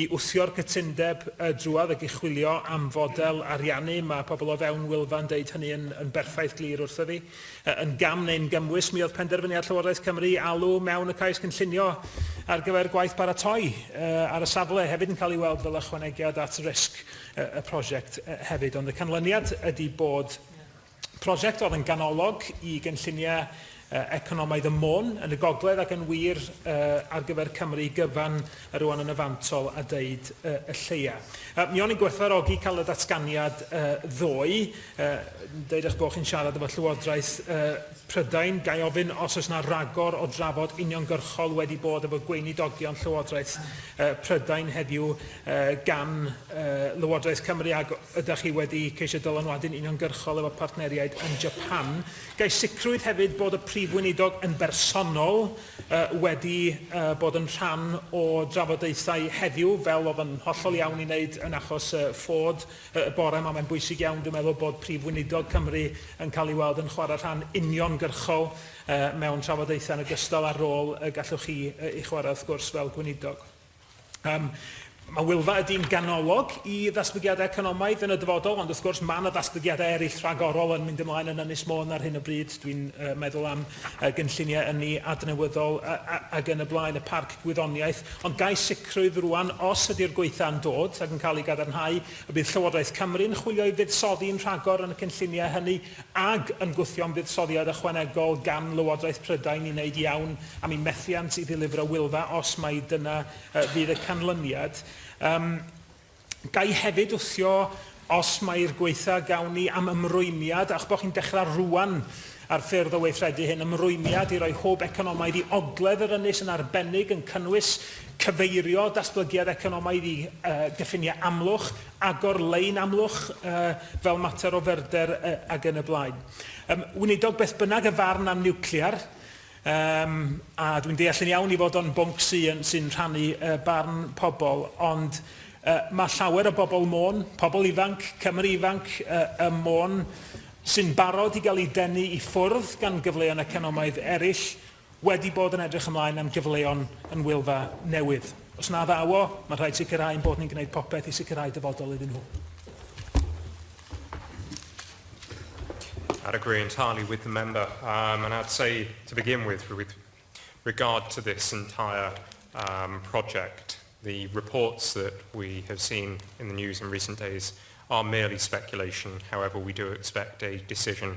I wthio'r cytundeb drwodd ag i chwilio am fodel ariannu, mae pobl o fewn Wylfa yn deud hynny yn yn berffaith glir wrtho fi. Yn gam neu'n gymwys, mi oedd penderfyniad Llywodraeth Cymru i alw mewn y cais gynllunio ar gyfer gwaith baratoi ar y safle hefyd yn cael ei weld fel ychwanegiad at risg y prosiect hefyd. Ond y canlyniad ydi bod Prosiect oedd yn ganolog i gynlluniau economaidd y Môn yn y gogledd ac yn wir ar gyfer Cymru gyfan yr ŵan yn y fantol a deud y lleia. Mi o'n i'n gwerthfawrogi cael y datganiad ddoe, deud eich bod chi'n siarad efo Llywodraeth Prydain, gai ofyn os oes yna ragor o drafod uniongyrchol wedi bod efo gweinidogion Llywodraeth Prydain heddiw gan Lywodraeth Cymru ac ydych chi wedi ceisio dylanwadu'n uniongyrchol efo partneriaid yn Japan. Gai sicrwydd hefyd bod y Prif Weinidog yn bersonol wedi bod yn rhan o drafodaethau heddiw, fel oedd yn hollol iawn i wneud yn achos Ford y bore yma. Mae'n bwysig iawn, dwi'n meddwl, bod Prif Weinidog Cymru yn cael ei weld yn chwarae rhan uniongyrchol mewn trafodaethau yn ogystal â'r rôl y gallwch chi ei chwarae, wrth gwrs, fel Gweinidog. Um, mae Wylfa ydy'n ganolog i ddatblygiadau economaidd yn y dyfodol, ond wrth gwrs mae yna ddatblygiadau eraill rhagorol yn mynd ymlaen yn Ynys Môn ar hyn o bryd. Dwi'n uh, meddwl am uh, gynlluniau yn ni adnewyddol ac yn y blaen, y parc gwyddoniaeth. Ond gai sicrwydd rwan, os ydy'r gweitha'n dod ac yn cael ei gadarnhau, y bydd Llywodraeth Cymru'n chwilio i fuddsoddi'n rhagor yn y cynlluniau hynny ac yn gwthio am fuddsoddiad ychwanegol gan Lywodraeth Prydain i wneud iawn am eu methiant i ddilifro Wylfa, os mai dyna fydd y canlyniad. Yym, ga i hefyd wthio, os mai'r gwaetha' gawn ni, am ymrwymiad, a'ch bod chi'n dechrau rŵan ar ffyrdd o weithredu hyn, ymrwymiad i roi hwb economaidd i ogledd yr ynys yn arbennig, yn cynnwys cyfeirio datblygiad economaidd i gyffiniau Amlwch, agor lein Amlwch fel mater o ferder ac yn y blaen. Yym, Weinidog, beth bynnag y farn am niwclear, yym, a dwi'n deall yn iawn ei fod o'n bwnc sy'n sy'n rhannu barn pobl, ond mae llawer o bobl Môn, pobl ifanc, Cymry ifanc ym Môn, sy'n barod i gael eu denu i ffwrdd gan gyfleon economaidd eraill, wedi bod yn edrych ymlaen am gyfleon yn Wylfa newydd. Os na ddaw o, mae'n rhaid sicrhau ein bod ni'n gwneud popeth i sicrhau dyfodol iddyn nhw. I'd agree entirely with the member, um, and I'd say to begin with, with regard to this entire um, project, the reports that we have seen in the news in recent days are merely speculation. However, we do expect a decision